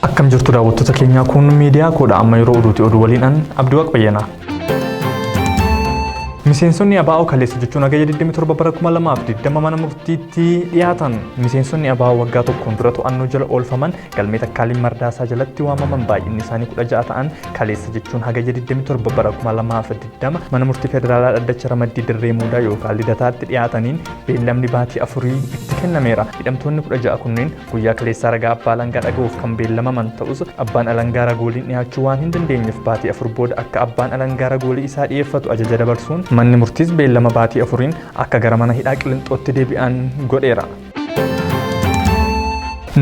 Akkam jirtu daawwattoota keenyaa kun miidiyaa koodha amma yeroo oduuti oduu waliin an Abdiwaaq Bayyanaa. Miseensonni ABO kaleessa jechuun hagayya 27 bara 2020 mana murtiitti dhiyaatan miseensonni ABO waggaa tokkoon dura to'annoo jala oolfaman Galmee Takkaaliin Mardaasaa jalatti waamaman baay'inni isaanii 16 ta'an kaleessa jechuun hagayya 27 bara 2020 mana murtii federaalaa dhaddacha ramaddii dirree muudaa yookaan lidataatti dhiyaataniin beellamni baatii afurii itti kennameera. Hidhamtoonni 16 kunneen guyyaa kaleessaa ragaa abbaa alangaa dhaga'uuf kan beellamaman ta'us abbaan alangaa ragooliin dhiyaachuu waan hin dandeenyeef baatii afur booda akka abbaan alangaa ragoolii isaa dhiyeeffatu ajaja dabarsuun manni murtiis beellama baatii afuriin akka gara mana hidhaa qilinxootti deebi'an godheera.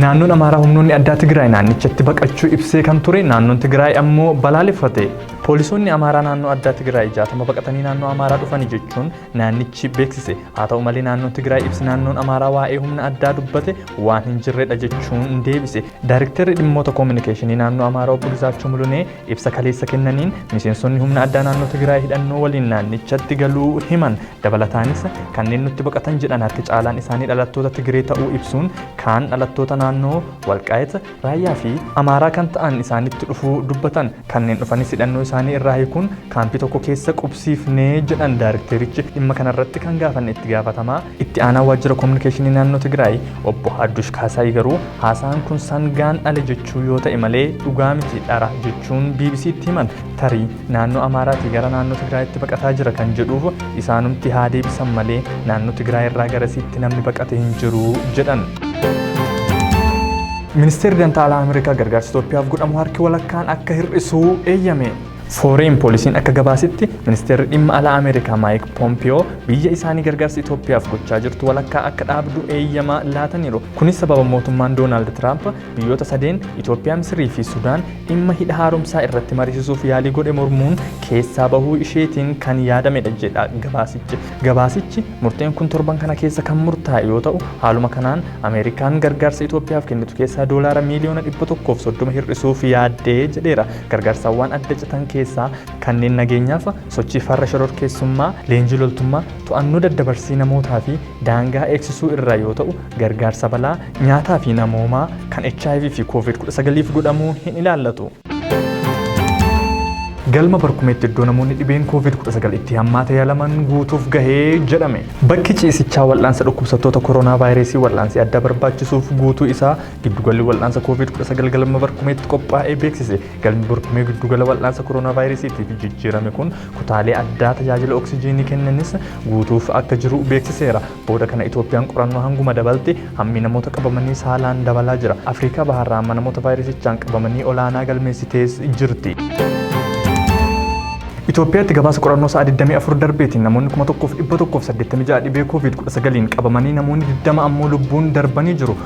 Naannoon Amaaraa humnoonni addaa Tigraay naannichatti baqachuu ibsee kan ture naannoon Tigraay ammoo balaaleffate. Poolisoonni Amaaraa naannoo addaa Tigraay jaatama baqatanii naannoo Amaaraa dhufanii jechuun naannichi beeksise. Haa ta'u malee naannoon Tigraay ibsi naannoon Amaaraa waa'ee humna addaa dubbate waan hin jirredha jechuun deebise. Daarikteerri dhimmoota koominikeeshinii naannoo Amaaraa obbo Gizaachuu Mulunee Ibsa kaleessa kennaniin miseensonni humna addaa naannoo Tigraay hidhannoo waliin naannichatti galuu himan. Dabalataanis kanneen nutti baqatan jedhan harki caalaan isaanii dhalattoota Tigree ta'uu ibsuun kaan dhalattoota naannoo Walqaayit, Raayyaa fi Amaaraa kan ta'an isaanitti dhufuu dubbatan. Kanneen dhufanis hidhannoo isaanii irraa hiikuun kaampii tokko keessa qubsiifne jedhan daarikteerichi. Dhimma kanarratti kan gaafanne itti gaafatamaa Itti aanaan waajjira kominikeeshinii naannoo Tigraay obbo Haddush Kaasaay garuu haasaan kun sangaan dhale jechuu yoo ta'e malee dhugaa miti dhara jechuun BBC'tti himan. Tarii naannoo Amaaraatii gara naannoo Tigraayitti baqataa jira kan jedhuuf isaanumti haa deebisan malee naannoo Tigraay irraa garasiitti namni baqate hin jiru jedhan. Ministeerri Dantaa Alaa Ameerikaa gargaarsa Itoophiyaaf godhamu harki walakkaan akka hir'isuu eeyyame. Foreign Policy'n akka gabaasetti, Ministeerri Dhimma Alaa Ameerikaa Maayik Poompiyoo biyya isaanii gargaarsa Itoophiyaaf gochaa jirtu walakkaa akka dhaabdu eeyyama laataniiru. Kunis sababa mootummaan Doonaald Tiraamp biyyoota sadeen, Itoophiyaa, Misirii fi Sudaan, dhimma hidha haaromsaa irratti mariisisuuf yaalii godhe mormuun keessaa bahuu isheetiin kan yaadamedha jedha gabaasichi. Gabaasichi, murteen kun torban kana keessa kan murtaa'e yoo ta'u, haaluma kanaan Ameerikaan gargaarsa Itoophiyaaf kennitu keessaa doolaara miiliyoona 130 hir'isuuf yaadde jedheera. Gargaarsawwan adda citan keessaa kanneen nageenyaaf, sochii farra shororkeessummaa, leenjii loltummaa, to'annoo daddabarsii namootaa fi daangaa eegsisuu irraa yoo ta'u, gargaarsa balaa, nyaataa fi namoomaa kan hiv fi Covid 19f godhamu hin ilaallatu. Galma Barkumeetti iddoo namoonni dhibeen Covid 19 itti hammaate yaalaman guutuuf gahe jedhame. Bakki ciisichaa wal'aansa dhukkubsattoota koronaavaayirasii wal'aansii addaa barbaachisuuf guutuu isaa Giddugalli wal'aansa koovid 19 galma barkumeetti qophaa'ee beeksise. Galmi barkumee giddugala wal'aansa koronaavaayirasiitiif jijjiirame kun kutaalee addaa tajaajila oksijiinii kennanis guutuuf akka jiru beeksiseera. Booda kana Itoophiyaan qorannoo hanguma dabalte hammi namoota qabamanii saalaan dabalaa jira. Afriikaa Bahaarraa amma namoota vaayirasichaan qabamanii olaanaa galmeessitees jirti. Itoophiyaatti gabaasa qorannoo sa'a 24 darbeetiin namoonni 1,186 dhibee koovid 19n qabamanii namoonni 20 ammoo lubbuun darbanii jiru.